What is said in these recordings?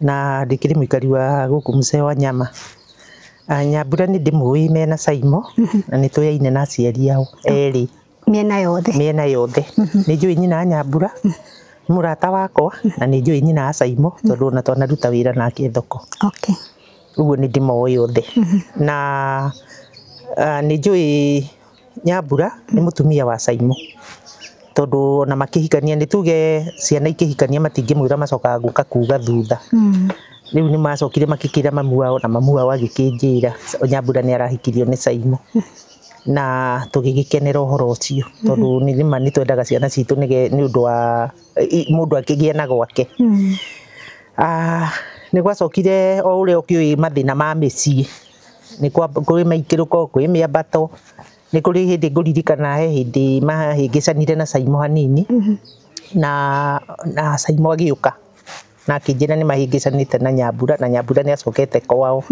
na ndikĩrĩ mũikari wa gũkũ mũcee wa nyama Ah, nyambura nĩ ndĩmũĩ mena caimo na nĩ tũyaine na aciari ao erĩ mĩena yothe mĩena yothe nĩ njũĩ nyina wa nyambura nĩ mũrata wakwa na nĩ njũĩ nyina wa caimo tondũ ona twanaruta wĩra nake thoko okay ũguo nĩ ndĩmoĩ othe na ah, nĩ njũĩ Nyambura nĩ mũtumia wa Caimo, tondũ ona makĩhikania nĩ tuge ciana ikĩhikania matingĩmwĩra macokaga gũka kuga thutha. Rĩu nĩ macokire magĩkĩra mamu wao na mamu wao agĩkĩnjĩra Nyambura nĩ arahikirio nĩ Caimo. Na tũgĩgĩkenera ũhoro ũcio tondũ nĩ ma nĩ twendaga ciana citũ nĩ ũndũ wa mũndũ akĩgĩe na gwake. Nĩ gwacokire o ũrĩa ũkĩũĩ mathĩna ma mĩciĩ nĩ kũrĩ maikĩrũko, kwĩ mĩambato, nĩ kũrĩ hĩndĩ ngũririkana he hĩndĩ mahĩngĩcanire na Caimo hanini, na Caimo agĩũka na akĩnjĩra nĩ mahĩngĩcanĩte na Nyambura, na Nyambura nĩ acokete kwao,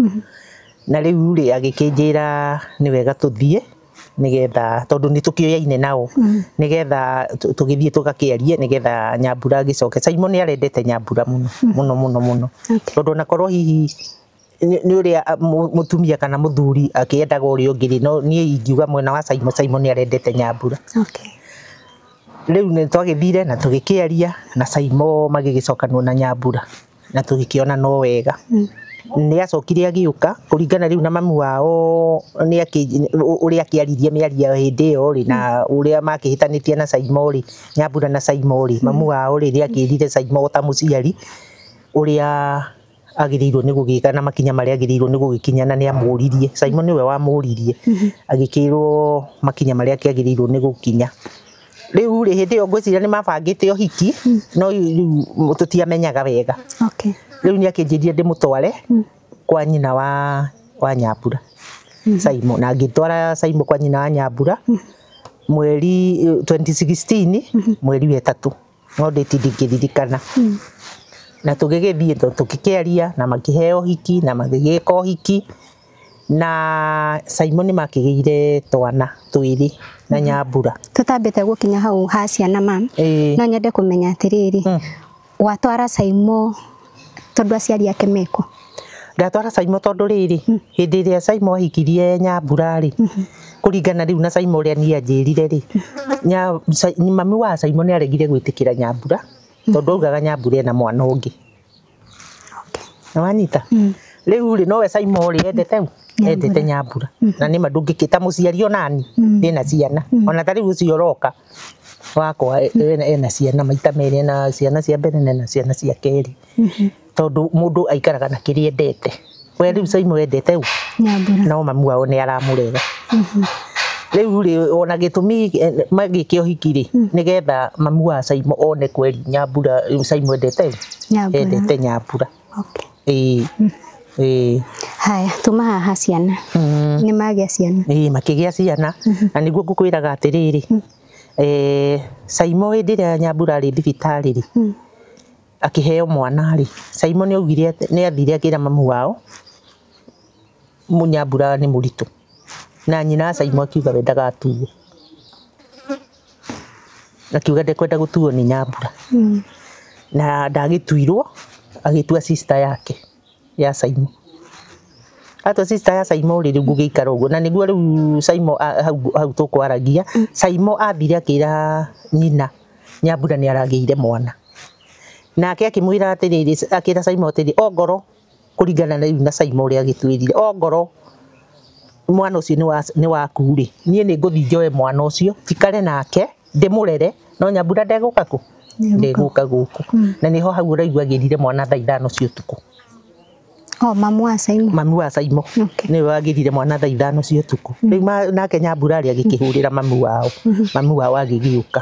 na rĩu rĩ agĩkĩnjĩra nĩ wega tũthiĩ nĩgetha tondũ nĩ tũkĩoyaine nao, nĩgetha tũgĩthiĩ tũgakĩarie nĩgetha Nyambura agĩcoke, Caimo nĩ arendete Nyambura mũno mũno mũno, tondũ ona korwo hihi nĩ nĩ ũrĩa a- mũ- mũtumia kana mũthuri akĩendaga ũrĩa ũngĩ rĩ no niĩ ingiuga mwena wa Simon Simon nĩ arendete nyambura Okay. rĩu nĩ twagĩthire na tũgĩkĩaria na Simon magĩgĩcokanwo na nyambura na tũgĩkĩona no wega nĩ acokire agĩũka kũringana rĩu na mamu wao nĩ akĩ- ũ- ũrĩa akĩaririe mĩario ya hĩndĩ ĩyo rĩ na ũrĩa makĩhĩtanĩtie na Simon rĩ nyambura na Simon rĩ mamu wao rĩ rĩ akĩrire Simon ta mũciari ũrĩa agĩrĩirwo nĩ gũgĩka na makinya marĩa agĩrĩirwo nĩ gũgĩkinya na nĩ amũririe Simon nĩwe wamũririe agĩkĩrwo makinya marĩa kĩagĩrĩirwo nĩ gũkinya rĩu rĩ hĩndĩ ĩyo ngwĩciria nĩ mabangĩte ũhiki no rĩu tũtiamenyaga wega Okay. rĩu nĩ akĩnjĩrire ndĩmũtware kwa nyina wa wa nyambura Simon na ngĩtwara Simon kwa nyina wa nyambura mweri eh, 2016 mweri wetatũ no ndĩti ndingĩririkana na tũgĩgĩthiĩ tũ- tũkĩkĩaria na makĩheo hiki na magĩgĩka ũhiki na Simon makĩgĩire twana twĩrĩ na nyambura tutambite gukinya hau ha ciana mam Ĩĩ. no nyende kumenya atiriri Mm. watwara caimo Tondũ aciari ake mekũ? Ndatwara Caimo tondũ rĩrĩ, hĩndĩ ĩrĩa Caimo ahikirie Nyambura rĩ, kũringana rĩu na Caimo ũrĩa niĩ anjĩrire rĩ, mami wa Caimo nĩ aregire gwĩtĩkĩra Nyambura tondũ augaga Nyambura ena mwana ũngĩ. Nĩ wanyita? Rĩu rĩ, nowe Caimo rĩ, endete ũ? Endete Nyambura. Na nĩ ma ndũngĩkĩĩta mũciari o naniĩ ndĩna ciana. Ona ta rĩu ũcio ũroka wakwa ena ciana maita merĩ, ena ciana cia mbere na ena ciana cia kerĩ, tondũ mũndũ aikaraga na kĩrĩa endete, we rĩu Simon endete ũũ? Nyambura. no mamu wao nĩ aramũrera rĩu rĩ ona gĩtũmi magĩke ũhiki rĩ nĩgetha mamu wa Simon one kweri Nyambura, rĩu Simon endete ũũ? Nyambura. endete Nyambura. Ĩĩ. Ĩĩ. Haya, tuma haha ciana. Nĩ magĩa ciana. Ĩĩ makĩgĩa ciana. Na nĩguo ngũkwĩraga atĩrĩrĩ, eh Saimo hĩndĩ ĩrĩa Nyambura arĩ thibitarĩ rĩ, akĩheo mwana rĩ, Saimo nĩ augire atĩ, nĩ athire akĩra mamu wao, Nyambura nĩ mũritũ. Na nyina wa Saimo akiuga we ndagatuo. akiuga ndekwenda gũtuo nĩ nyambura mm. na ndagĩtuirwo agĩtua sister yake ya Saimo atua sister ya Saimo rĩ rĩu gũgĩikara ũguo na nĩguo rĩu Saimo hau tũkwaragia mm. Saimo ambire akĩra nyina nyambura nĩ aragĩire mwana nake akĩmwĩra atĩrĩrĩ akĩra Saimo atĩrĩ ongoro kũringana rĩu na Simon ũrĩa agĩtwĩrire, ongorwo mwana ũcio nĩ waku-rĩ, niĩ nĩ ngũthiĩ njoe mwana ũcio njikare nake ndĩmũrere, no Nyambura ndegũka kũ? Ndegũka gũkũ. Na nĩho hau ũraigua agĩrire mwana thaa ithano cia ũtukũ. Oh, mamu wa Simon. Mamu wa Simon. Okay. Nĩwe wagĩrire mwana thaa ithano cia ũtukũ. Rĩu nake Nyambura-rĩ agĩkĩhũrĩra mamu wao. Mamu wao agĩgĩũka.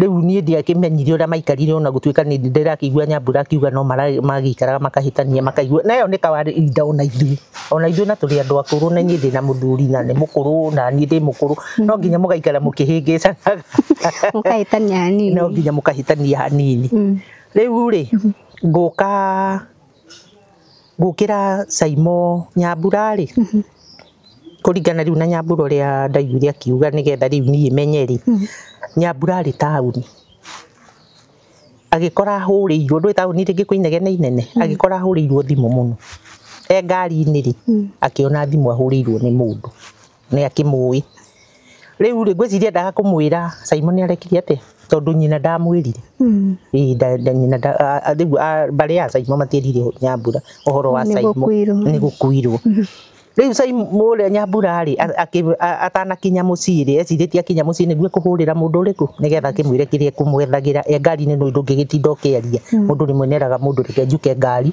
Rĩu niĩ ndiakĩmenyire ũrĩa maikarire ona gũtuĩka nĩ ndĩrakĩigua nyambura akiuga no magĩikaraga makahĩtania makaigua na ĩyo nĩ kawari inda ona ithuĩ ona ithuĩ na tũrĩ andũ akũrũ na inyuĩ ndĩ na mũthuri na nĩ mũkũrũ na niĩ ndĩ mũkũrũ no nginya mũgaikara mũkĩhĩngĩcanaga mũkahĩtania hanini no nginya mũkahĩtania hanini rĩu rĩ ngũka Ngũkĩra Saimon Nyambura rĩ, kũringana rĩu na Nyambura ũrĩa ndaiguire akiuga nĩgetha rĩu niĩ menye rĩ, Nyambura arĩ taũni, agĩkora ahũrĩirwo, ndũĩ taũni rĩngĩ kwĩ inegene inene, agĩkora ahũrĩirwo thimũ mũno. E ngari-inĩ rĩ, akĩona thimũ ahũrĩirwo nĩ mũndũ. nĩ akĩmũĩ rĩu rĩ ngwĩciria ndaga kũmwĩra Simon arekire atĩ tondũ nyina ndamwĩrire Ĩĩ, nda- nda- nyina nda- a- a- rĩu a- mbarĩ ya Simon matierire Nyambura ũhoro wa Nĩ Simon gũkuirwo. nĩ gũkuirwo rĩu Simon ũrĩa Nyambura rĩ a- akĩ- a- atanakinya mũciĩ rĩ ecirĩtie akinya mũciĩ nĩguo kũhũrĩra mũndũ ũrĩkũ nĩgetha akĩmwĩre kĩrĩa kũmwethagĩra e ngari-inĩ nũĩ ndũngĩgĩtinda ũkĩaria mũndũ rĩmwe neraga mũndũ reke njuke ngari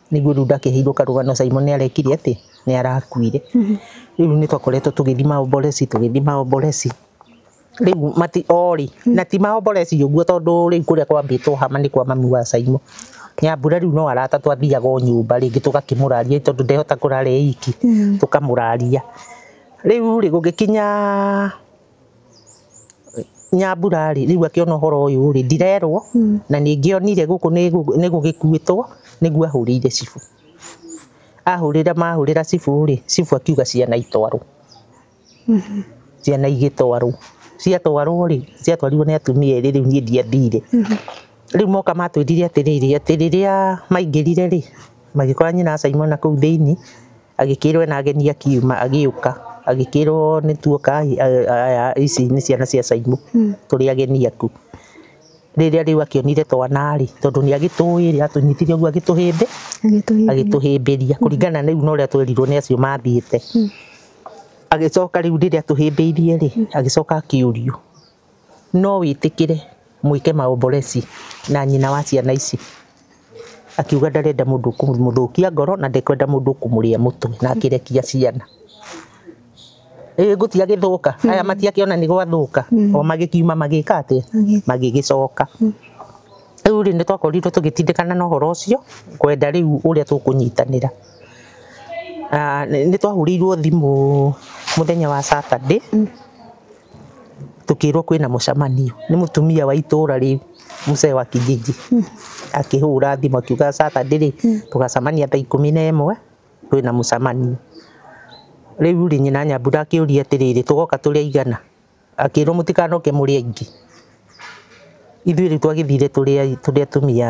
niguo riu ndakĩheirwo karũgano Simon arekire atĩ nĩ arakuire riu nĩ twakoretwo tũgĩthima oboreci tũgĩthima oboreci riu mati ori na ti maoboreci ũguo tondũ riu kũrĩa kwambĩtwo hama nĩ kwa mami wa Simon Nyambura riu no arata twathiaga o nyũmba rĩngĩ tũgakĩmũraria tondũ ndehota kũrara e iki tũkamũraria riu rĩ gũgĩkinya Nyambura rĩ, rĩu akĩona ũhoro ũyũ rĩ, ndirerwo hmm. na ningĩ onire gũkũ nĩ gũgĩkuĩtwo nĩguo ahũrĩire cibũ. Ahũrĩra mahũrĩra cibũ rĩ, cibũ akiuga ciana itwarwo. Hmm. Ciana igĩtwarwo. Ciatwarwo rĩ, ciatwarirwo nĩ atumia erĩ rĩu niĩ ndiathire. Hmm. Rĩu moka matwĩrire atĩrĩrĩ, atĩ rĩrĩa maingĩrire rĩ, magĩkora nyina wa Simon kũu thĩinĩ. Agĩkĩĩrwo ena ageni akiuma agĩũka agĩkĩĩrwo nĩ tuoka aya ici nĩ ciana cia Caimũ tũrĩ ageni aku. Rĩrĩa rĩu akĩonire twana rĩ, tondũ nĩ agĩtũĩ rĩ, atũnyitire ũguo agĩtũhĩmbĩ agĩtũhĩmbĩria kũringana na rĩu na ũrĩa twerirwo nĩ acio mathiĩte. Agĩcoka rĩu rĩrĩa atũhĩmbĩirie rĩ, agĩcoka akĩũrio no wĩtĩkĩre mwĩke maomboreci na nyina wa ciana ici. Akiuga ndarenda mũndũ kũmũthũkia ngoro na ndekwenda mũndũ kũmũrĩa mũtwe na akĩrekia ciana. Ĩĩ ngũthiĩ agĩthũka, aya matiakĩona nĩ gwathũka, o magĩkiuma magĩka atĩa? Magĩgĩcoka. Rĩu rĩ, nĩ twakorirwo tũgĩtindĩkana na ũhoro ũcio, kwenda rĩu ũrĩa tũkũnyitanĩra. Nĩ twahũrĩirwo thimũ mũthenya wa Saturday. tũkĩrwo kwĩna mũcemanio nĩ mũtumia wa itũra rĩu mzee wa kijiji akĩhũra thimũ akiuga Saturday rĩ tũgacemania thaa ikũmi na ĩmwe kwĩna mũcemanio. Rĩu rĩ nyina Nyambura akĩũria atĩrĩrĩ tũgoka tũrĩ aigana? Akĩrwo mũtikanoke mũrĩ aingĩ, ithuĩ rĩu twagĩthire tũrĩ atumia.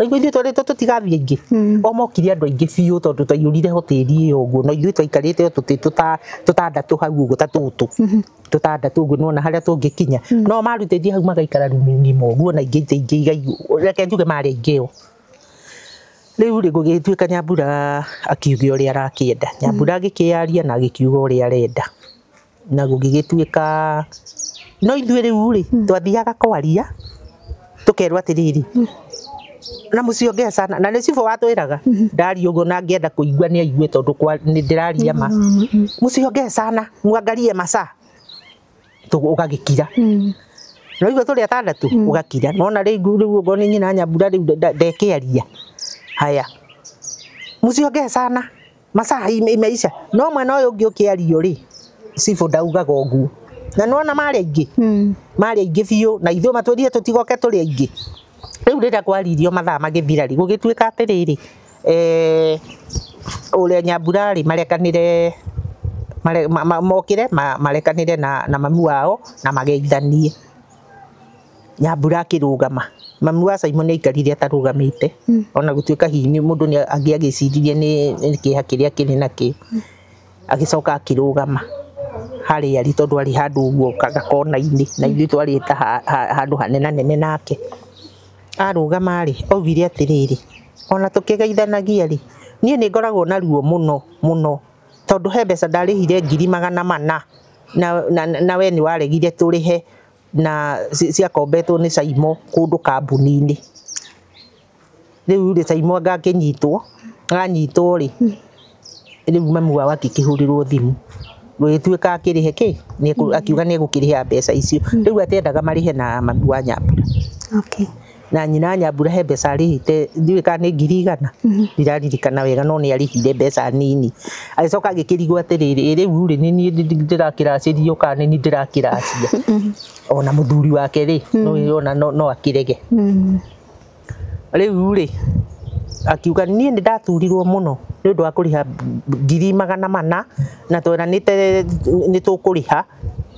Raigua ithuĩ twarĩtwo tũtigathiĩ aingĩ mm. o mokire andũ aingĩ biũ tondũ twaiyũrire hoteli ĩyo ũguo na ithuĩ twaikarĩte o tũtĩ tũtandatũ hau ũguo ta tũtũ mm-hmm. tũtandatũ ũguo nona harĩa tũngĩkinya mm. no marutĩtie hau magaikara rumu ng'ima ũguo na ingĩ ingĩ igaiyũ reke njuge marĩ aingĩ o rĩu rĩ gũgĩtuĩka nyambura akiuge ũrĩa arakĩenda nyambura mm. agĩkĩyaria na agĩkiuga ũrĩa arenda Na gũgĩgĩtuĩka no ithuĩ rĩu-rĩ twathiaga kwaria tũkerwo atĩrĩrĩ, na mũciĩ ũngĩ acana, na nĩ cibũ watwĩraga, ndaria ũguo na ngĩenda kũigua nĩ aigue tondũ ndĩraria ma, mũciĩ ũngĩ acana mwangalie masaa ũgagĩkira. Nĩ waigua tũrĩ atandatũ ũgakira. Nĩ wona rĩu okorwo nĩ nyina Nyambura rĩu ndekĩaria, haya mũciĩ ũngĩ acana. masaa ime- imeisha no mwena ũyũ ũngĩ ũkĩario rĩ cibũ ndaugaga ũguo na nĩwona marĩ aingĩ Mm. marĩ aingĩ biũ na ithuĩ matwĩrire tũtigoke tũrĩ aingĩ rĩu rĩrĩa kwaririo mathaa magĩthira rĩ gũgĩtuĩka atĩrĩrĩ eh, ũrĩa nyambura rĩ marekanĩre mare- ma- ma- mokĩre ma- marekanĩre na na mami wao na mageithanie Nyambura akĩrũgama. Mami wa Simon aikarire atarũgamĩte ona gũtuĩka hihi nĩ mũndũ nĩ angĩagĩciririe nĩ nĩ kĩeha kĩrĩa kĩrĩ nakĩo. Agĩcoka akĩrũgama harĩa arĩ tondũ arĩ handũ ũguo gakona-inĩ na ithuĩ twarĩ ta handũ hanenanene nake. Arũgama rĩ, augire atĩrĩrĩ, ona tũkĩgeithanagia rĩ, niĩ nĩ ngoragwo na ruo mũno mũno tondũ he mbeca ndarĩhire ngiri magana mana na na na we nĩ waregire tũrĩhe. na ci- ciakombetwo nĩ caimo kũndũ kambuni-inĩ rĩu rĩ caimo anga akĩnyitwo anyitwo rĩ rĩu mami wao akĩkĩhũrĩrwo thimũ gũgĩtuĩka akĩrĩhe kĩ nĩekũ- akiuga nĩ egũkĩrĩha mbeca icio rĩu atendaga marĩhe na mami wa nyambura Okay. na nyina nyambura he mbeca arĩhĩte ndiũĩ kana nĩ ngiri igana ndiraririkana wega no nĩ arĩhire mbeca nini agĩcoka agĩkĩrigwo atĩrĩrĩ "Ĩ rĩu rĩ nĩ niĩ ndi- ndi- ndĩrakĩracĩrio kana nĩ niĩ ndĩrakĩracia ona mũthuri wake rĩ no- ona no no akĩrege rĩu rĩ akiuga niĩ nĩ ndaturirwo mũno nĩ ũndũ wa kũrĩha ngiri magana mana na tweranĩte nĩ tũkũrĩha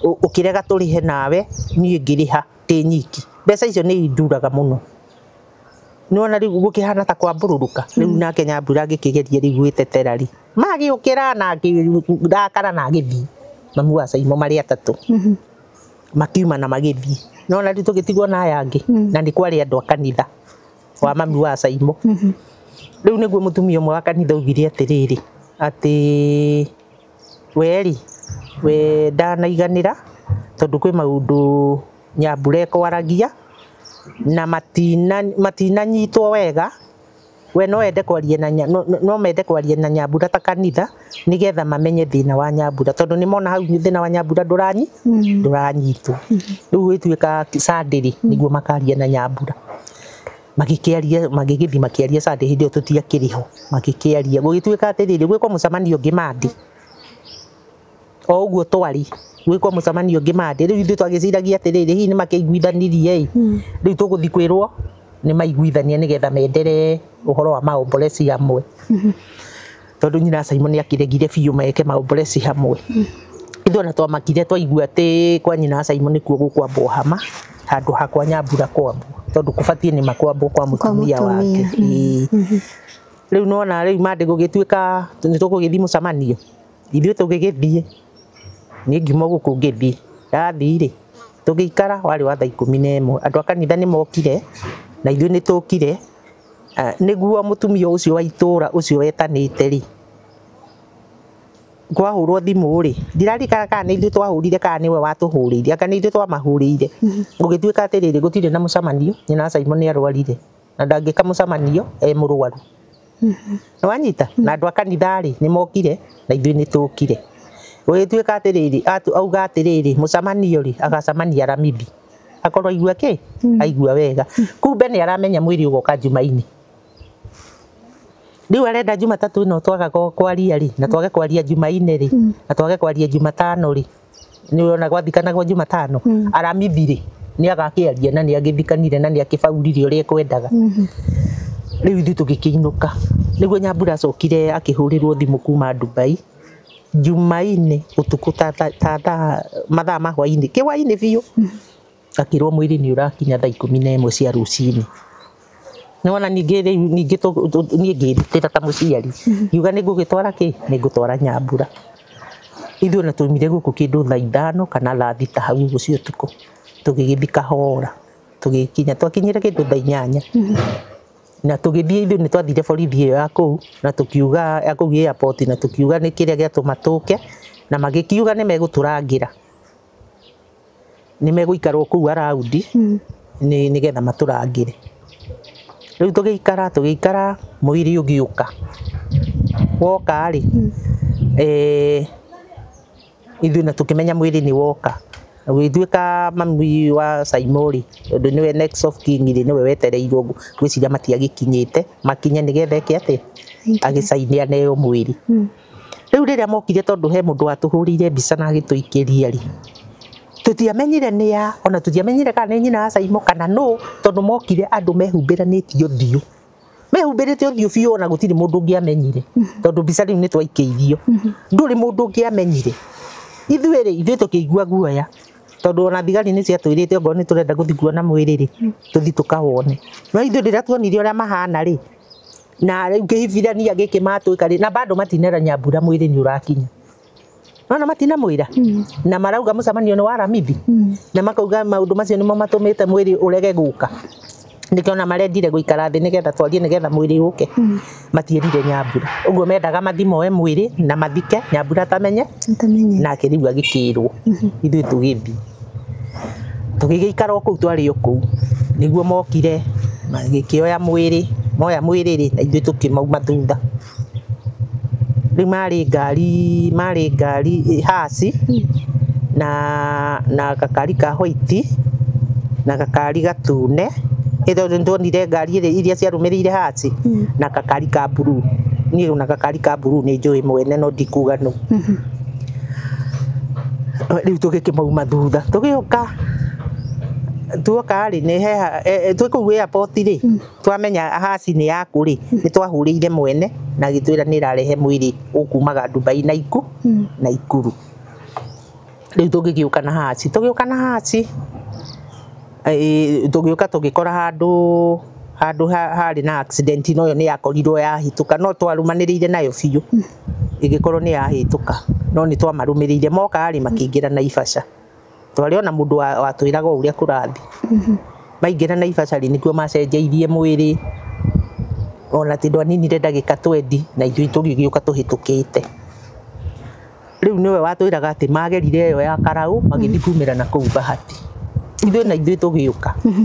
ũ- ũkĩrega tũrĩhe nawe niĩ ngĩrĩha ndĩ nyiki mbeca icio nĩ induraga mũno nĩwona rĩu gũkĩhana ta kwambũrũrũka rĩu mm. nake nyambura ngĩkĩgeria rĩu gwĩtetera rĩ magĩũkĩra na ngĩrakara na ngĩthiĩ mamu wa caimo marĩ atatũ mm-hmm. makiuma na magĩthiĩ nona rĩu tũgĩtigwo na aya angĩ mm. na nĩ kwarĩ andũ a kanitha wa mami wa caimo mm-hmm. rĩu nĩguo mũtumia ũmwe wa kanitha augire atĩrĩrĩ atĩ Wee-rĩ, we ndanaiganĩra tondũ kwĩ maũndũ Nyambura ekwaragia na matinanyitwo wega, we no ende kwaria na Nyambura, no mende kwaria na Nyambura ta kanitha nĩgetha mamenye thĩna wa Nyambura tondũ nĩ mona hau thĩna wa Nyambura ndũranyitwo. Rĩu ĩtuĩka Sunday-rĩ, nĩguo makaria na Nyambura. magĩkĩaria magĩgĩthiĩ makĩaria Sunday hĩndĩ ĩyo tũtiakĩrĩ ho magĩkĩaria gũgĩtuĩka atĩrĩrĩ gwĩkwo mũcemanio ũngĩ Monday o ũguo twarĩ gwĩkwo mũcemanio ũngĩ Monday rĩu ithuĩ twagĩciragia atĩrĩrĩ hihi nĩ makĩiguithanirie ĩ rĩu tũgũthiĩ kwĩrwo nĩ maiguithania nĩgetha menderee ũhoro wa maombolesi amwe tondu nyina Simon akiregire biũ meke maomboreci hamwe ithu ona twamakire twaigua ati kwa nyina Simon kuo gukwambwo hama handu hakwa nyambura kwambwo tondu kubatie ni makwambwo kwa mutumia wake mutumia. Ĩĩ. riu nona riu mande gugituika ni tugugithii mucemanio ithuĩ tugigithii ni ngiuma guku ngithii ndathii ri tugikara wari wa thaa ikumi na imwe andu a kanitha ni mokire na ithuĩ ni tukire Eh, nĩguo mũtumia ũcio wa itũũra ũcio wetanĩte rĩ kwahũrwo thimũ rĩ ndirarikana kana nĩ ithuĩ twahũrire kana nĩwe watũhũrĩire anga nĩ ithuĩ twamahũrĩire gũgĩtuĩka atĩrĩrĩ gũtirĩ na mũcemanio nyina wa Simon nĩ arwarire na ndangĩka mũcemanio e mũrwaru nĩ wanyita na andũ a kanitha rĩ nĩ mokire na ithuĩ nĩ tũkire gũgĩtuĩka atĩrĩrĩ atu- auga atĩrĩrĩ mũcemanio rĩ agacemania Ramithi akorwo aigua kĩ hmm. aigua wega kumbe nĩ aramenya mwĩrĩ ũgoka njumainĩ riu arenda jumatatu ino twaga kwaria ri na twage kwaria jumaine ri hmm. na twage kwaria jumatano ri ni urona gwathikanagwo jumatano hmm. aramithire ni agakiaria na ni agithikanire na ni akibaurire uria ekwendaga riu ithu tugikiinuka niguo nyambura acokire akihurirwo thimu kuma Dubai Jumaine ũtukũ ta thaa mathaa ma hwainĩ, kĩhwainĩ biũ, ngakĩrwo mwĩrĩ nĩ ũrakinya thaa ikũmi na ĩmwe cia rũcinĩ. Nĩ wona ningĩ rĩu ningĩ niĩ ngĩĩrutĩra ta mũciari, ngiuga nĩ ngũgĩtwara kĩ? Nĩ ngũtwara nyambura. Ithuĩ ona twaumire gũkũ kĩndũ thaa ithano kana thaa thita hau ũguo cia ũtukũ, tũgĩgĩthiĩ kahora, tũgĩkinya, twakinyire kĩndũ thaa inyanya. na tũgĩthiĩ ithuĩ nĩ twathire borithi ĩyo ya kũu na tũkiuga ya kũu airport na tũkiuga nĩ kĩrĩa gĩatũma tũke na magĩkiuga nĩ megũtũrangĩra nĩ megũikarwo kũu araundi nĩgetha matũrangĩre rĩu tũgĩikara tũgĩikara mũiri ũgĩũka woka rĩ eh, ithuĩ na tũkĩmenya mwĩrĩ nĩ woka gwĩtuĩka mami wa Saimori ũndũ nĩwe next of king rĩ nĩwe wetereirwo gwĩciria matiagĩkinyĩte makinye nĩgetha eke atĩ agĩcaine aneo mwĩrĩ rĩu rĩrĩa mokire tondũ he mũndũ watũhũrĩire mbica na agĩtũikĩria rĩ tũtiamenyire nĩ ya ona tũtiamenyire kana nĩ nyina wa Saimo kana nũ tondũ mokire andũ mehumbĩranĩtie ũthiũ mehumbĩrĩte ũthiũ biũ ona gũtirĩ mũndũ ũngĩamenyire tondũ mbica rĩu nĩ twaikĩithio ndũrĩ mũndũ ũngĩamenyire ithuĩ rĩ ithuĩ tũkĩigua guoya tondũ ona thigari nĩ ciatwĩrĩte okorwo nĩ tũrenda gũthiĩ kuona mwĩrĩ rĩ tũthiĩ tũkawone no ithuĩ rĩrĩa tuonire ũrĩa mahana rĩ na rĩu kĩhibirania gĩkĩmatwĩka rĩ na bado matinera nyambura mwĩrĩ nĩ ũrakinya nona matinamwira na marauga mucemanio ni wa ramithi na makauga maundu macio nimo matumite mwiri urege guka nikio na marendire guikara thi nigetha twarie nigetha mwiri uke matierire nyambura uguo mendaga mathimoe mwiri na mathike nyambura atamenye Nitamenye. nake riu agikirwo ithuĩ tũgĩthiĩ tũgĩgĩikara o kũu twarĩ o kũu nĩguo mokire magĩkĩoya mwĩrĩ moya mwĩrĩ rĩ na ithuĩ tũkĩmauma thutha Rĩu marĩ ngari, marĩ ngari haci na na gakari ka hwaiti na gakari gatune. Ĩndĩ nĩ ndonire ngari iria ciarũmĩrĩire haci na gakari ka mburuu. Niĩ ona gakari ka mburuu nĩ njũĩ mwene no ndikuga nũ. Rĩu tũgĩkĩmauma thutha tũgĩũka, tuoka rĩ, twĩ kũu airport rĩ... Twamenya Ahazi nĩ yaku-rĩ, nĩtwahũũrĩire mwene na agĩtwĩra nĩĩrarehe mwĩrĩ ũkuumaga Dubai na iku, Naikuru. Rĩu tũgĩgĩũka na Ahazi. Tũgĩũka na Ahazi, tũgĩũka tũgĩkora handũ, handũ harĩ na accident no ĩyo nĩyakorirwo yahĩtũka no twarũmanĩrĩire nayo biũ ĩgĩkorwo nĩyahĩtũka no nĩtwamarũmĩrĩire. Moka-rĩ, makĩingĩra na Naivasha. twarĩ ona mũndũ watwĩraga wa ũrĩa kũrathi mhm. maingĩra na ibacari nĩkuo macenjeirie mwĩrĩ ona tondũ aninire ndagĩka twendi na ithuĩ tũgĩgĩũka tũhĩtũkĩte rĩu nĩwe watwĩraga atĩ magerire ĩyo ya karaũ magĩthiĩ kumĩra na kũu bahati ithuĩ na ithuĩ tũgĩũka mhm.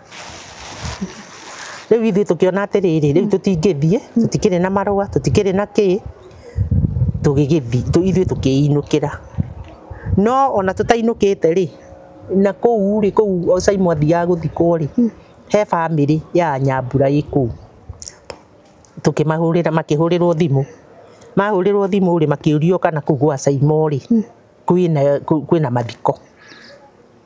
Rĩu ithuĩ tũkĩona atĩrĩrĩ, rĩu tũtingĩthiĩ, tũtikĩrĩ na marũa, tũtikĩrĩ na kĩĩ, tũgĩgĩthiĩ, ithuĩ tũkĩinũkĩra. No ona tũtainũkĩte rĩ, na kũu rĩ, kũu Saimo athiaga gũthikwo rĩ, he bamĩrĩ ya Nyambura ĩ kũu. Tũkĩmahũrĩra, makĩhũrĩrwo thimũ. Mahũrĩrwo thimũ rĩ, makĩũrio kana kũu gwa Saimo rĩ, kwĩna, kwĩna mathiko.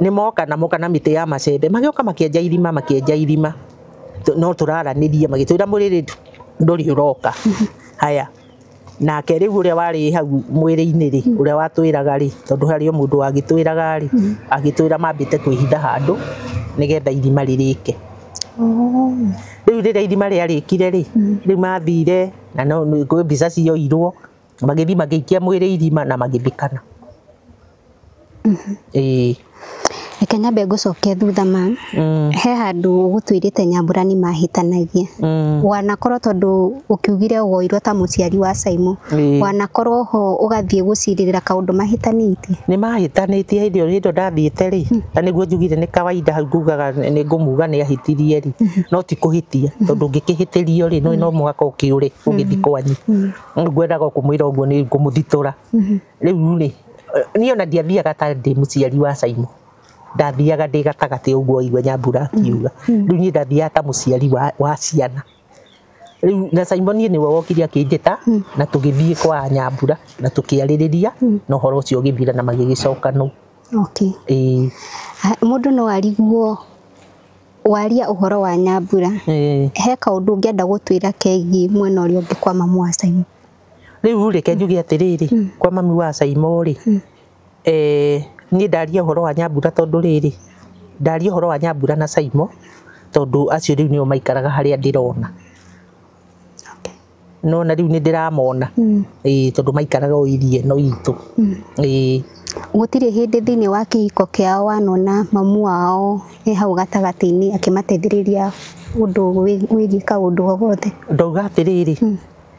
nĩ moka na moka na mĩtĩ ya macembe magĩoka makĩenja irima makĩenja irima Tu- no tũraranĩrie magĩtwĩra mũrĩrĩtu ndũrĩ ũroka haya nake rĩu ũrĩa warĩ hau mwĩrĩ-inĩ rĩ ũrĩa watwĩraga rĩ tondũ harĩ o mũndũ wagĩtwĩraga rĩ agĩtwĩra mambĩte kwĩhitha handũ nĩgetha irima rĩrĩke rĩu rĩrĩa irima rĩarĩkire rĩ rĩu mathire na no nĩ- kwĩ mbica cioirwo magĩthiĩ magĩikia mwĩrĩ irima na magĩthikana Ĩĩ. Reke nyambe ngũcokie thutha ma. He handũ ũgũtuĩrĩte nyambura nĩ mahĩtanagia. Wanakorwo tondũ ũkiugire woirwo ta mũciari wa Simon, Ĩĩ. wanakorwo ho ũgathiĩ gũcirĩrĩra kaũndũ mahĩtanĩtie? Nĩ mahĩtanĩtie hĩndĩ ĩyo hĩndĩ ĩyo ndathiĩte rĩ, na nĩguo njugire nĩ kawaida hau ngugaga nĩ ngũmuga nĩ ahĩtirie rĩ, no ti kũhĩtia. Tondũ ũngĩkĩhĩtĩrio rĩ, nĩũĩ no mũhaka ũkĩũre ũgĩthi kwanyu. Rĩu ngwendaga o kũmwĩra ũguo nĩ ngũmũthitũra. Rĩu rĩ, niĩ ona ndiathiaga ta ndĩ mũciari wa Simon ndathiaga ndĩ gatagatĩ ũguo waigua nyambura akiuga mm. rĩu niĩ ndathiaga ta mũciari wa, wa ciana rĩu na Simon niĩ nĩwe wokire akĩnjĩta mm. na tũgĩthiĩ kwa nyambura na tũkĩarĩrĩria mm. na ũhoro ũcio ũgĩthira na magĩgĩcoka no okay. e. mũndũ no ariguo waria ũhoro wa nyambura e. he kaũndũ ũngĩenda gũtwĩra kegiĩ mwena ũrĩa ũngĩ kwa mamu wa Simon riu reke njuge atiriri mm. kwa mami wa Saimo ri mm. eh ni ndaria horo wa nyambura tondu riri ndaria horo wa nyambura na Saimo tondu acio riu nio maikaraga haria ndirona no na riu ni ndiramona mm. eh tondu maikaraga o irie no itu mm. eh gutire hindi thiini wa kihiko kiao wanona mamu wao e hau gatagati-ini akimateithiriria undu wigie kaundu o gothe ndauga atiriri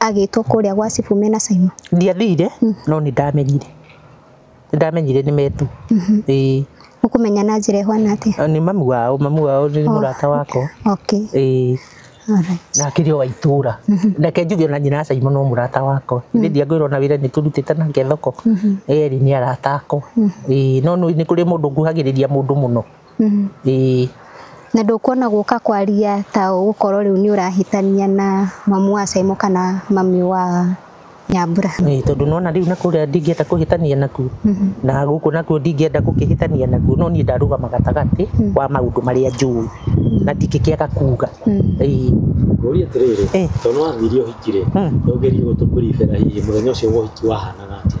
agĩtwo kũrĩa gwa cibũ mena caima ndiathire no nĩ ndamenyire nĩ ndamenyire nĩ metu ĩĩ ũkũmenya na njĩra ĩhwana atĩa Na nĩ mamu wao mamu wao nĩ mũrata wakwa okay ĩĩ alright na akĩrĩ o wa itũra reke njuge ona nyina caimo no mũrata wakwa nĩ ndiangwĩrwo na wĩra nĩ tũrutĩte nake thoko erĩ nĩ arata akwa ĩĩ no nĩ nĩ kũrĩ mũndũ nguhagĩrĩria mũndũ mũno Mm. Ĩĩ. Na ndũkuona gũka kwaria ta ũgũkorwo rĩu nĩ ũrahĩtania na mamu wa Saimo kana mami wa Nyambura. Ĩĩ, tondũ nona rĩu na kũrĩa ndingĩenda kũhĩtania nakuo na gũkũ nakuo ndingĩenda gũkĩhĩtania nakuo no niĩ ndarũgama gatagatĩ wa maũndũ marĩa njũĩ na ndingĩkĩaga kuga Ĩĩ. Ngũrie atĩrĩrĩ, Eh. tondũ nĩwathire ũhiki-rĩ, Mm. nĩwagĩrĩirwo gũtũ brief-era hihi mũthenya ũcio wa ũhiki wahanaga atĩa?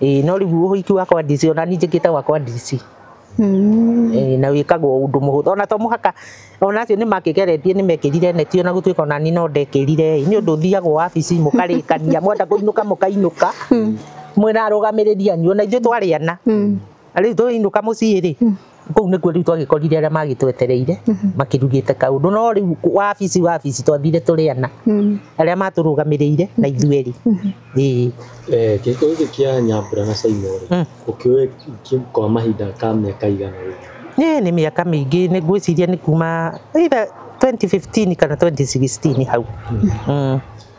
ĩĩ no rĩu ũhiki wakwa DC ona niĩ njĩkĩte wakwa DC Mm. Ĩĩ, na wĩkagwo ũndũ mũhũthũ ona to mũhaka ona acio nĩ makĩgeretie nĩ mekĩrire neti ona gũtuĩka ona niĩ no ndekĩrire ĩ, nĩ ũndũ ũthiagwo wabici mũkarĩkania mwenda kũinũka mũkainũka mwĩna arũgamĩrĩri anyu ona ithuĩ twarĩ ana Na rĩu tũinũka mũciĩ rĩ kũu nĩkuo rĩu twagĩkorire arĩa magĩtwetereire makĩrugĩte kaũndũ no rĩu wabici wabici twathire tũrĩ ana arĩa matũrũgamĩrĩire na ithuĩ erĩ Ĩĩ. Eh, gĩko gĩkĩ kĩa nyambura na caimo rĩ Mm. ũkĩũĩ ki- kwa mahinda ka mĩaka igana rĩ Ĩĩ, nĩ mĩaka mĩingĩ nĩ ngwĩciria nĩ kuma either 2015 kana 2016 hau Mm.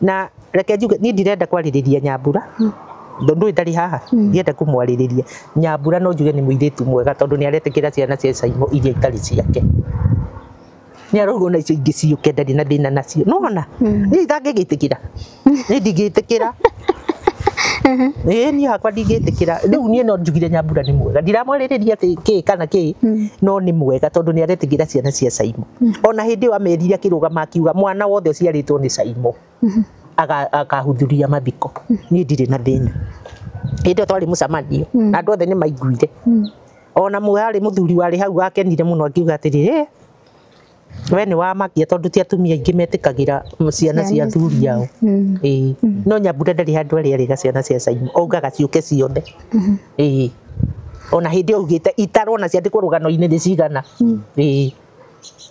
na reke njuge niĩ ndirenda kwarĩrĩria nyambura ndũndũ ndarĩ haha ndienda kũmwarĩrĩria nyambura no njuge nĩ mũirĩtu mwega tondũ nĩ aretĩkĩra ciana cia caimo iria itarĩ ciake nĩ arauga ona icio ingĩ ciũke ndarĩ na thĩna nacio nona niĩ itangĩgĩtĩkĩra niĩ ndingĩtĩkĩra ĩĩ niĩ hakwa ndingĩtĩkĩra rĩu niĩ no njugire nyambura nĩ mwega ndiramwarĩrĩria atĩ kĩ kana kĩ no nĩ mwega tondũ nĩ aretĩkĩra ciana cia caimo ona hĩndĩ ĩyo amerire akĩrũgama akiuga mwana wothe ũciarĩtwo nĩ caimo aga- akahudhuria mathiko niĩ ndirĩ na thĩna hĩndĩ ĩyo twarĩ mũcemanio na andũ othe nĩ maiguire ona mũrarĩ mũthuri warĩ hau wakenire mũno akiuga atĩrĩ "Ĩ, we nĩ wamakia tondũ ti atumia aingĩ metĩkagĩra ciana cia athuri ao Ĩĩ. no nyambura ndarĩ handũ arĩ arĩga ciana cia caimo augaga ciũke ciothe Mhm. Ĩĩ. Ona hĩndĩ augĩte itarwo na ciandĩkwo rũgano-inĩ nĩ cigana. Mm. Ĩĩ.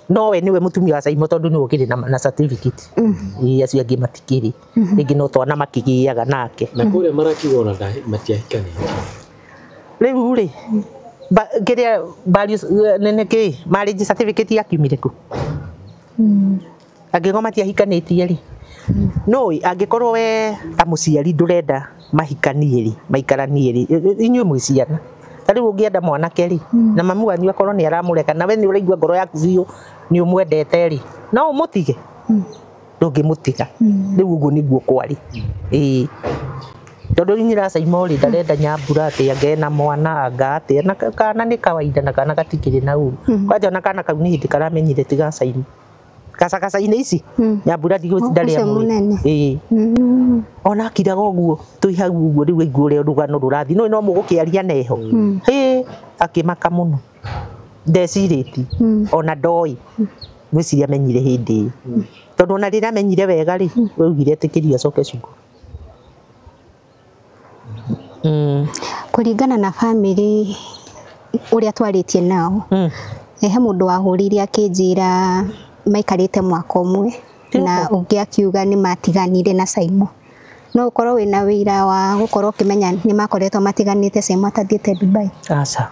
No we nĩwe mũtumia wa Caimo tondũ nĩwe ũkĩrĩ na, na certificate. Mm. Ĩĩ acio angĩ matikĩrĩ. Mhm. Rĩngĩ no twana makĩgĩaga nake. Na kũrĩa marakiuga ona matiahikanĩte. Rĩu rĩ, kĩrĩa nene kĩ marriage certificate yakiumire kũ? Mm. angĩkorwo matiahikanĩtie rĩ no angĩkorwo we ta mũciari ndũrenda mahikanie rĩ maikaranie rĩ inyuĩ mwĩ ciana ta rĩu ũngĩenda mwanake rĩ na mamu wanyu akorwo nĩ aramũreka na we nĩ ũraigua ngoro yaku biũ nĩ ũmwendete rĩ no ũmũtige ndũngĩmũtiga rĩu ũguo nĩguo kwarĩ ĩĩ tondũ rĩu nyiracaima rĩ ndarenda nyambura atĩ angee na mwana anga atĩa na ka- kana nĩ kawaida na kana gatikĩrĩ na ũru kwanja ona kana kau nĩ hĩndĩ karamenyire ti gacaima gacagaca-inĩ ici Mm. ya mbura ndigũ Ũcio ndarĩa mũnene. ĩĩ Mm. ona akiraga ũguo twĩ hau ũguo rĩu aigua ũrĩa rũgano rũrathiĩ nũĩ no mũgũkĩaria neho Mm. hĩ akĩmaka mũno ndecirĩti Mm. ona ndoĩ ngwĩciria amenyire hĩndĩ ĩyo tondũ ona rĩrĩa amenyire wega rĩ augire ĩtĩkĩria acoke cukuru Mm. Kũringana na bamĩrĩ ũrĩa twarĩtie nao, Mm. eh, he mũndũ wahũrĩire akĩnjĩra maikarĩte mwaka ũmwe na ũngĩ akiuga nĩ matiganire na Saimo. No ũkorwo wĩna wĩira wa gũkorwo ũkĩmenya nĩ makoretwo matiganĩte Saimo atathiĩte Dubai. Aca.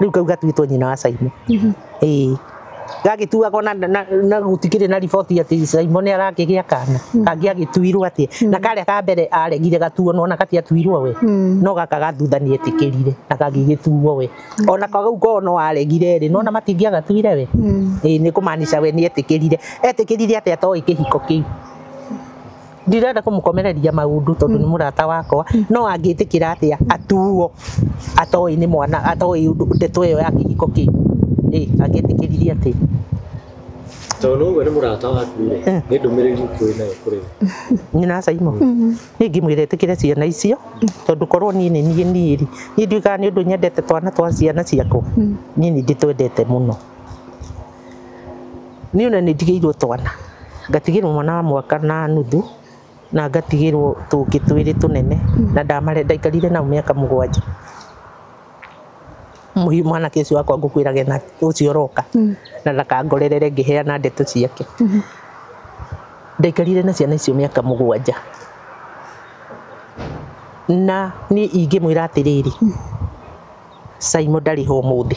riu kau gatuitwo nyina wa Simon ĩĩ gagĩtuagwo na, na, na gutikĩrĩ na riboti atĩ Simon nĩ arakĩgĩa kana kangĩ agĩtuirwo atĩ na karĩa ka mbere aregire gatuo nona gatiatuirwo we no gaka ga thutha nĩ etĩkĩrire na kagĩgĩtuo we ona kau koo no aregire rĩ nona matingĩagatuire we ĩĩ nĩ kũmaanisha we nĩ etĩkĩrire etĩkĩrire atĩ atoĩ kĩhiko kĩu ndirenda kũmũkomereria maũndũ tondũ nĩ mũrata wakwa no angĩtĩkĩra atĩa atuo atoĩ nĩ mwana atoĩ ũndũ ndeto ĩyo ya kĩhiko kĩu ĩ angĩtĩkĩririe atĩ tondũ ũguo nĩ mũrata waku rĩ nĩ ndũmĩrĩri ũkwĩ nayo kũrĩ we nyina caimo niĩ ngĩmwĩra ĩtĩkĩre ciana icio tondũ korwo niĩ nĩ niĩ niĩ rĩ niĩ ndiugaga nĩ ũndũ nyendete twana twa ciana ciakwa niĩ nĩ ndĩtwendete mũno Niĩ ona nĩ ndigĩirwo twana, ngatigĩrwo mwana wa mwaka na nuthu, na ngatigĩrwo tũngĩ twĩrĩ tũnene, na ndaikarire nao mĩaka mũgwanja. Mwanake ũcio wakwa ngũkwĩraga ena ũcio ũroka, na ndakangorere ngĩheana ndeto ciake. Ndaikarire na ciana icio mĩaka mũgwanja. Na niĩ ingĩmwĩra atĩrĩrĩ, Simon ndarĩ ho ũmũthĩ.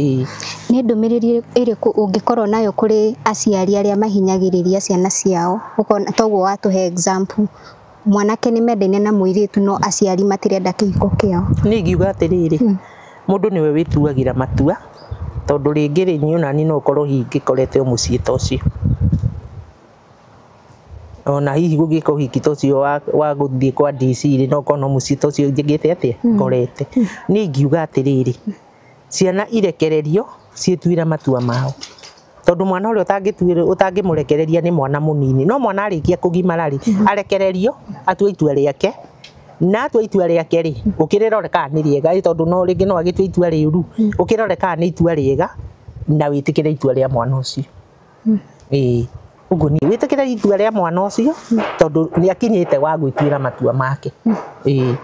Ĩĩ. Nĩ ndũmĩrĩri ĩrĩkũ ũngĩkorwo nayo kũrĩ aciari arĩa mahinyagĩrĩria ciana ciao ũkona ta ũguo watũhe example mwanake nĩ mendaine na mũirĩtu no aciari matirenda kĩhiko kĩao? Niĩ ingiuga atĩrĩrĩ, mũndũ nĩwe wĩtuagĩra matua, tondũ rĩngĩ rĩ, niĩ o naniĩ no ngorwo hingĩkorete o mũciĩ ta ũcio. ona hihi gũgĩka ũhiki ta ũcio wa, wa gũthiĩ kwa DC rĩ no ũkona mũciĩ ta ũcio njĩkĩte atĩa ngorete niĩ ingiuga atĩrĩrĩ ciana irekererio ciĩtuĩre matua mao tondũ mwana ũrĩa ũtangĩtuĩra ũtangĩmũrekereria nĩ mwana mũnini no mwana arĩkia kũgimara rĩ arekererio atue itua rĩake na atua itua rĩake rĩ ũkĩrĩrore kana nĩ rĩega ĩ tondũ no rĩngĩ no agĩtue itua rĩũru ũkĩrore kana nĩ itua rĩega na wĩtĩkĩre itua rĩa mwana ũcio ĩĩ ũguo niĩ wĩtĩkĩre itua rĩa mwana ũcio tondũ nĩ akinyĩte wa gwĩtuĩra matua make ĩĩ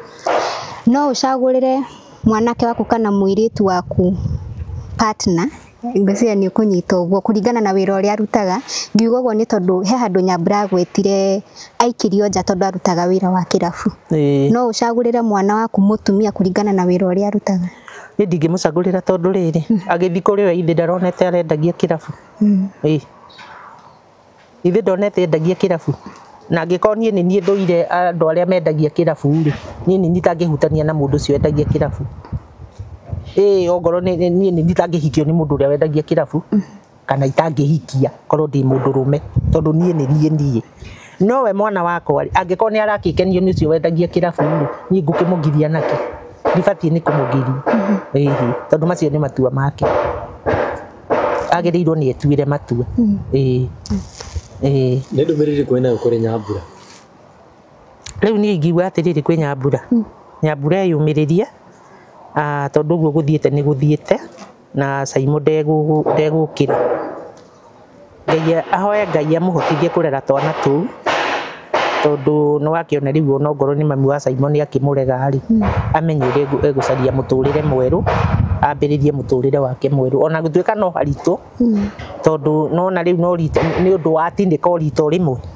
No ũcagũrĩre mwanake waku kana mũirĩtu waku partner ngwĩciria nĩ ũkũnyita ũguo kũringana na wĩra ũrĩa arutaga. Ngiuga ũguo nĩ tondũ he handũ Nyambura agwetire aikirio nja tondũ arutaga wĩra wa kĩrabu. Ĩĩ. No ũcagũrĩre mwana waku mũtumia kũringana na wĩra ũrĩa arutaga. Niĩ ndingĩmũcagũrĩra tondũ rĩrĩ, agĩthiĩ kũrĩ we ithe ndaronete arendagia kĩrabu. Ĩ. Ithe ndonete endagia kĩrabu. Na angĩkorwo niĩ nĩ niĩ thũire andũ arĩa mendagia kĩrabu rĩ, niĩ nĩ niĩ itangĩhutania na mũndũ ũcio wendagia kĩrabu. Ĩ ongorwo nĩ niĩ nĩ niĩ itangĩhikio nĩ mũndũ ũrĩa wendagia kĩrabu. kana itangĩhikia korwo ndĩ mũndũ rũme tondũ niĩ nĩ niĩ niĩ no we mwana wakwa rĩ angĩkorwo nĩ arakĩkenio nĩ ũcio wendagia kĩrabu rĩ niĩ ngũkĩmũgiria nake ndibatiĩ nĩ kũmũgiria ĩhĩ tondũ macio nĩ matua make agĩrĩirwo nĩ etuĩre matua ĩĩ ĩĩ nä ndå mä rä rä kå nayo kå rä nyambura rä u niä ingiuga atä rä rä kwä nyambura nyambura eyå mä rä rie tondå å guo gå thiä te nä gå thiä te na caimũ ndegũgũ- ndegũkĩra ngai a- ahoe ngai amũhotithie kũrera twana tũu tondũ nĩ wakĩona rĩu ona okorwo nĩ mami wa caimũ nĩ akĩmũrega rĩ amenye ũrĩa egũ- egũcaria mũtũrĩre mwerũ ambĩrĩrie mũtũrĩre wake mwerũ ona gũtuĩka no haritũ tondũ nona rĩu no rita nĩ ũndũ wa atĩ nĩ ko rita o rĩmwe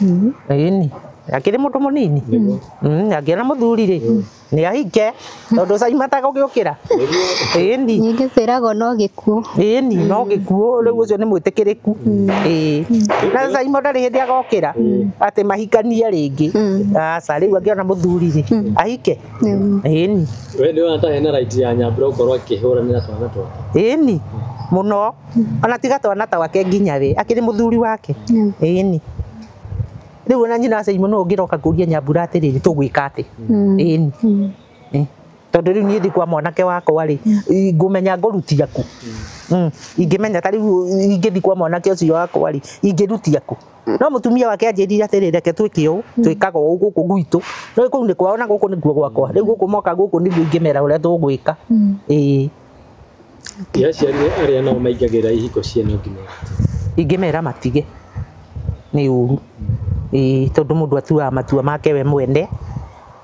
Mm. Ĩni. Akĩrĩ mũndũ mũnini. Mm, Angĩona mũthuri rĩ, nĩ ahike tondũ caimata gũgĩũkĩra. Ĩni. Ningĩ kwĩragwo no gĩkuũ. Ĩni no gĩkuũ rĩu ũcio nĩ mwĩtĩkĩrĩku. Ĩĩ. Na Simon ndarĩ hĩndĩ agokĩra atĩ mahikanie rĩngĩ. Aca rĩu angĩona mũthuri rĩ, ahike. Mm. Ĩni. We nĩ wona ta hena right ya nyambura gũkorwo akĩhũranĩra twana twake Ĩni. Mũno. ona tiga twana twake nginya we akiri muthuri wake ini riu ona nyina aciari muno ungiroka kuria nyambura atiriri tugwika ati ini tondu riu nie thi kwa mwanake wakwa ri ngumenya ngurutia ku Mm. ingimenya ta riu ingithi kwa mwanake ucio wakwa ri ingirutia ku no mutumia wake anjirire atiri reke twike u twikaga u guku gwitu no kuu ni kwao na guku niguo gwakwa riu guku moka guku niguo ingimera uria tugwika ii Nĩ aciari arĩa nao maingagĩrĩra ihiko cia no nginya. ingĩmera matige nĩ ũru Ĩĩ, tondũ mũndũ atuaga matua make we mwene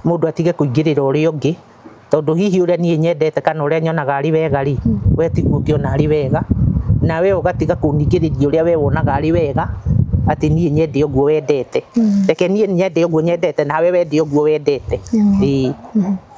mũndũ atige kũingĩrĩra ũrĩa ũngĩ tondũ hihi ũrĩa niĩ nyendete kana ũrĩa nyonaga arĩ wega rĩ we tiguo ũngĩona arĩ wega na we ũgatiga kũningĩrĩria ũrĩa we wonaga arĩ wega atĩ niĩ nyende ũguo wendete reke niĩ nyende ũguo nyendete nawe wende ũguo wendete Ĩĩ.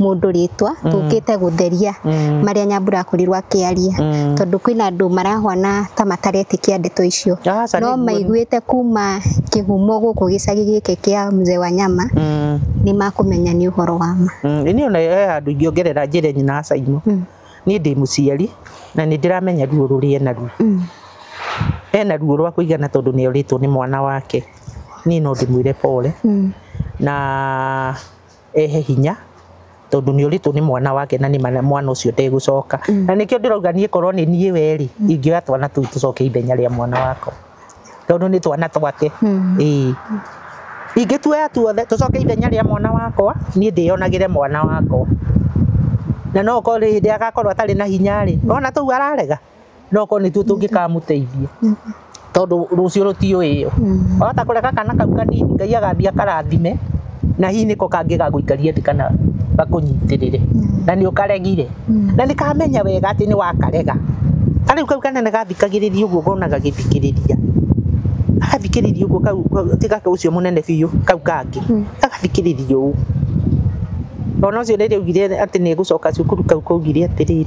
mũndũ rĩtwa mm. tũkĩte gũtheria mm. marĩa nyambura akorirwo akĩaria mm. tondũ kwĩna andũ marahwana ta mataretĩkia ndeto icio ah, no maiguĩte kuma kĩhumo gũkũ gĩcagi gĩkĩ kĩa mzee wa nyama nĩ makũmenya nĩ ũhoro wa ma nĩ ona eh, andũ ingĩongerera njĩre nyina acaimo niĩ ndĩ mũciari na nĩ ndĩramenya ruo rũrĩa ena ruo ena ruo rwa kũigana tondũ nĩ orĩtwo nĩ mwana wake niĩ no ndĩmwĩre pole na ehe hinya tondu ni uritu ni mwana wake na ni mwana ucio ndegucoka mm. na nikio ndirauga nie korwo ni nie we ri mm. ingioya twana tu tucoke ithenya ria mwana wako tondu ni twana twake mm. ii ingituoya tuothe tucoke ithenya ria mwana wakwa nie ndiyonagire mwana wakwa na no korwo hindi agakorwo atari na hinya ri ona tu ararega no korwo nĩtuo tũngĩkamũteithia tondũ rũciũ rũtiũĩ ĩyo wahota kũreka kana kau kanini ngai agathiĩ akarathime na hihi nĩko kangĩ gagũikaria thĩ kana gakũnyitĩrĩre na nĩ ũkaregire na nĩ kamenya wega atĩ nĩ wakarega ta rĩu kau kanene gathikagĩrĩria ũguo ngona gagĩthikĩrĩria agathikĩrĩria ũguo kau kau- ti gaka ũcio mũnene biũ kau kangĩ agathikĩrĩria ũũ ona ũcio rĩrĩa augire atĩ nĩ egũcoka cukuru kau kaugire atĩrĩrĩ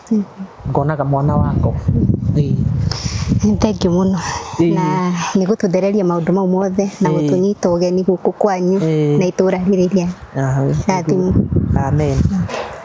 ngonaga mwana wako Ĩĩ. Nĩ thengi mũno Ĩĩ. na nĩ gũtũthereria maũndũ mau mothe na Ĩĩ. gũtũnyita ũgeni gũkũ kwanyu Ĩĩ. na itũũra rĩrĩ rĩa Aha. Rathimũ. Amen.